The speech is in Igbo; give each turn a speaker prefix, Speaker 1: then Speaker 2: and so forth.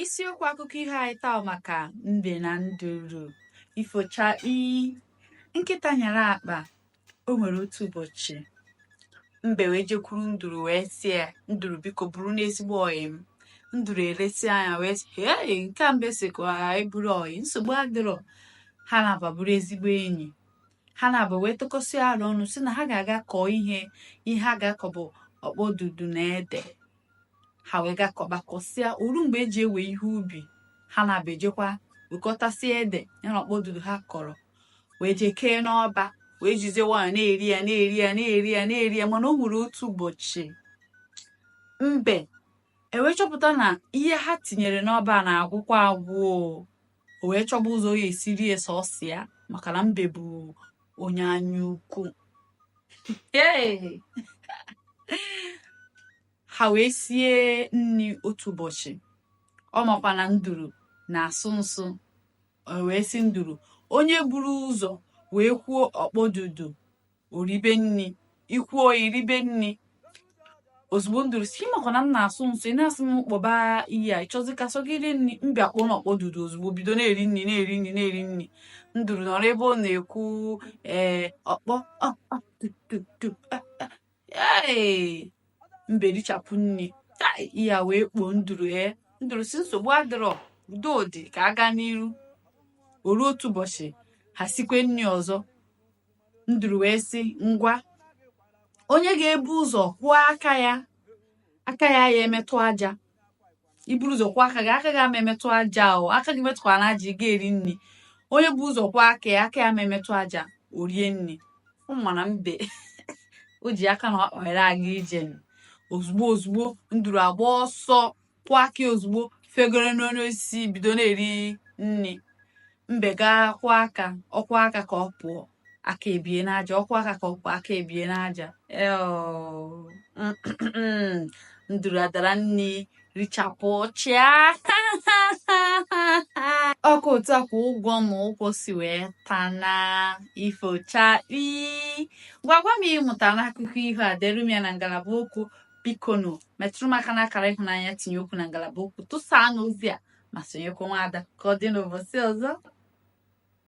Speaker 1: Isiokwu akụkọ ihe anyị taa maka mbe na nduru. Ifochakpi nkịta nyara akpa o nwere otu ụbọchị mbe wee jekwuru nduru wee sị ya nduru biko bụrụnụ ezigbo ọyị m nduru elesie anya wee sị hei nke a mbe sị ka anyị bụrụ ọyị nsogbu adịrọ ha naabọ abụrụ ezigbo enyi ha naabọ wee tụkọsịa alo ọnụ sị na ha ga-aga kọọ ihe ihe ha ga-akọ bụ ọkpọdudu na ede ha wee ga kọba kọsịa o ruo mgbe e ji ewe ihe ubi ha naabọ ejekwa wekọtasịa ede ya na ọkpọdudu ha kọrọ wee jee kee n'ọba wee jizie nwayọ na-eri ya na-eri ya na-eri ya na-eri ya mana o nwere otu ụbọchị mbe ewee chọpụta na ihe ha tinyere n'ọba na-agwụkwa agwụ o wee chọba ụzọ ya esi rie sọsọ ya maka na mbe bụ onye anya ukwu ha wee sie nri otu ụbọchị ọ makwa na nduru na-asụ nsụ wee sị nduru onye buru ụzọ wee kwuo ọkpọdudu o ribe nri i kwuo i ribe nri ozugbo nduru sị ị makwa na m na-asụ nsụ ị na-asị m kpọba ihe a ị chọzi ka sọ gị rie nri mbe akpọọnụ ọkpọdudu ozugbo bido na-eri nri na-eri nri na-eri nri nduru nọrọ ebe ọ na-ekwu ee ọkpọ ee mbe richapụ nri ihe a wee kpoo nduru ee nduru sị nsogbu adịrọ udo dị ka a ga n'iru o ruo otu ụbọchị ha sikwe nri ọzọ nduru wee sị ngwa onye ga-ebu ụzọ kwụọ aka ya aka ya ama emetụ aja i buru ụzọ kwụọ aka gị aka gị ama emetụ aja o aka gị emetụkwana aja ị ga-eri nri onye bu ụzọ kwụọ aka ya aka ya ama emetụ aja o rie nri ọ ma na mbe o ji aka na ọkpa were aga ije ozugbo ozugbo nduru agba ọsọ kwụọ aka ya ozugbo fegoro n'enu osisi bido na-eri nri mbe gaa kwụọ aka ọ kwụọ aka ka ọ pụọ aka ebie n'aja ọ kwụọ aka ka ọ pụọ aka ebie n'aja nduru adara nri richapụchaa ọ kwa otu a ka ụgwọ ma ụgwọ si wee taa na ifochakpi gwakwa m ihe ị mụta n'akụkọ ihe a deere m ya na ngalaba okwu bikonụ metụrụ m aka n'akara ịhụnanya tinye okwu na ngalaba okwu tụsaanụ ozi a ma sonyekwa nwaada ka ọ dị n'ụbọchị ọzọ